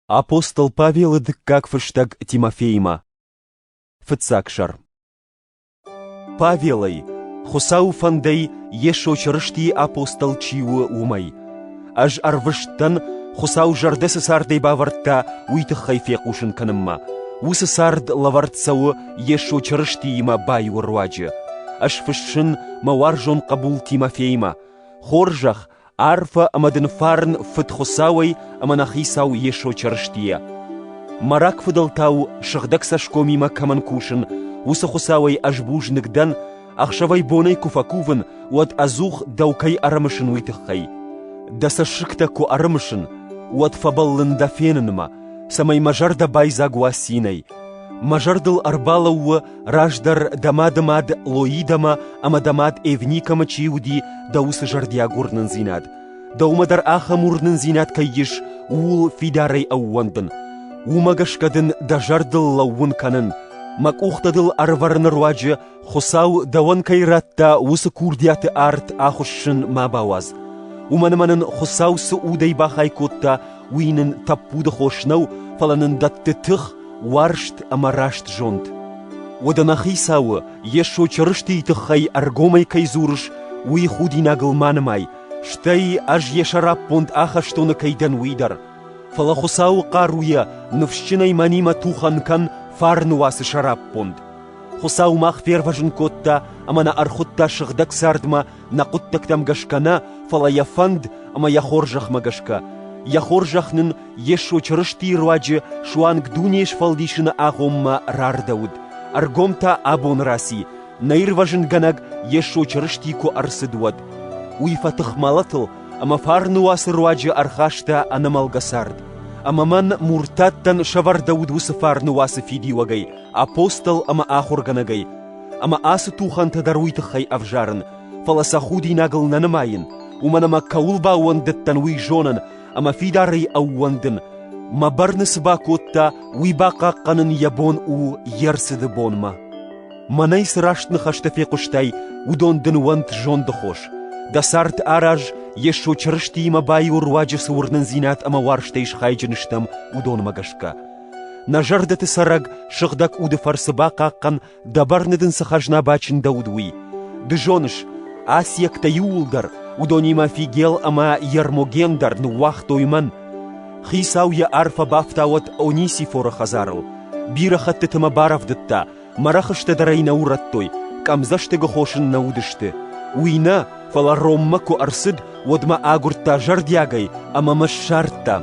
Апостол Павелы дыккаг фыстӕг Тимофеимӕ. Фыццаг сӕр. Павелӕй, Хуыцауы фӕндӕй Йесо Чырыстийы апостол чи у, уымӕй. Ӕз ӕрвыст дӕн, Хуыцау зӕрдӕ цы цардӕй бавӕрдта, уый тыххӕй фехъусын кӕнынмӕ. Уыцы цард лӕвӕрд цӕуы Йесо Чырыстиимӕ баиуы руаджы. Ӕз фыссын мӕ уарзон хъӕбул Тимофеимӕ. Хорзӕх Арфӕ ӕмӕ дын фарн Фыд Хуыцауӕй ӕмӕ нӕ Хицау Йесо Чырыстийӕ. Мӕ рагфыдӕлтау сыгъдӕг цӕсгомимӕ кӕмӕн кусын, уыцы Хуыцауӕй ӕз бузныг дӕн, ӕхсӕвӕй-бонӕй куы фӕкувын, уӕд ӕдзух дӕу кӕй ӕрымысын, уый тыххӕй. Дӕ цӕссыгтӕ куы ӕрымысын, уӕд фӕбӕллын дӕ фенынмӕ, цӕмӕй мӕ зӕрдӕ байдзаг уа цинӕй. Мӕ зӕрдыл ӕрбалӕуу Раздӕр дӕ мады мад Лоидӕмӕ ӕмӕ дӕ мад Эвникӕмӕ чи уыди, дӕ уыцы зӕрдиаг уырнындзинад. Дӕумӕ дӕр ахӕм уырнындзинад кӕй ис, ууыл фидарӕй ӕууӕндын. Уымӕ гӕсгӕ дын дӕ зӕрдыл лӕууын кӕнын, мӕ къухтӕ дыл ӕрӕвӕрыны руаджы Хуыцау дӕуӕн кӕй радта уыцы курдиаты арт ахуыссын ма бауадз. Уымӕн ӕмӕ нын Хуыцау цы удӕй бахай кодта, уый нын тӕппуды хос нӕу, фӕлӕ нын дӕтты тых, уарзт ӕмӕ раст зонд. Уӕдӕ нӕ хицауы, Йесо Чырыстийы тыххӕй ӕргомӕй кӕй дзурыс, уый худинагыл ма нымай, стӕй ӕз йӕ сӕраппонд ахӕстоны кӕй дӕн, уый дӕр. Фӕлӕ Хуыцауы хъаруйӕ ныфсджынӕй мӕнимӕ тухӕн кӕн фарны уацы сӕраппонд. Хуыцау мах фервӕзын кодта ӕмӕ нӕ ӕрхуыдта сыгъдӕг цардмӕ нӕ хъуыддӕгтӕм гӕсгӕ нӕ, фӕлӕ йӕ фӕнд ӕмӕ йӕ хорзӕхмӕ гӕсгӕ. Йӕ хорзӕх нын Йесо Чырыстийы руаджы суанг дуне сфӕлдисыны агъоммӕ рардӕуыд, ӕргом та абон раци, нӕ ирвӕзынгӕнӕг Йесо Чырысти куы ӕрцыд, уӕд. Уый фӕтых мӕлӕтыл ӕмӕ фарны уацы руаджы ӕрхаста ӕнӕмӕлгӕ цард. Ӕмӕ мӕн муртаттӕн сӕвӕрдӕуыд уыцы фарны уацы фидиуӕгӕй, апостол ӕмӕ ахуыргӕнӕгӕй, Ӕмӕ ацы тухӕнтӕ дӕр уый тыххӕй ӕвзарын, фӕлӕ сӕ худинагыл нӕ нымайын, уымӕн ӕмӕ кӕуыл баууӕндыдтӕн, уый зонын ӕмӕ фидарӕй ӕууӕндын, мӕ бӕрны цы бакодта, уый бахъахъхъӕнын йӕ бон у йе рцыды бонмӕ. Мӕнӕй цы раст ныхӕстӕ фехъуыстай, уыдон дын уӕнт зондыхос. Дӕ цард араз, Йесо Чырыстиимӕ баиу руаджы цы уырнындзинад ӕмӕ уарзтӕй схайджын стӕм, уыдонмӕ гӕсгӕ. Нӕ зӕрдӕты цӕрӕг сыгъдӕг уды фӕрцы бахъахъхъӕн, дӕ бӕрны дын цы хӕзна бачындӕуыд, уый. Ды зоныс, асиӕгтӕ иууылдӕр, уыдонимӕ Фигел ӕмӕ Ермоген дӕр ныууагътой мӕн. Хицау йӕ арфӕ бафтауӕд Онисифоры хӕдзарыл. Бирӕ хӕттыты мӕ барӕвдыдта, Мӕ рӕхыстӕ дӕр ӕй нӕ урӕдтой, къӕмдзӕстыгы хосын нӕ уыдысты. Уый нӕ, фӕлӕ Роммӕ куы ӕрцыд, уӕд мӕ агуырдта зӕрдиагӕй ӕмӕ мӕ ссардта.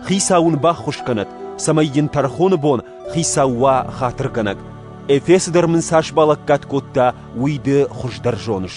Хицау ын баххуыс кӕнӕд, цӕмӕй йын тӕрхоны бон хицау уа хатыргӕнӕг. Эфесы дӕр мын цас балӕггад кодта, уый ды хуыздӕр зоныс.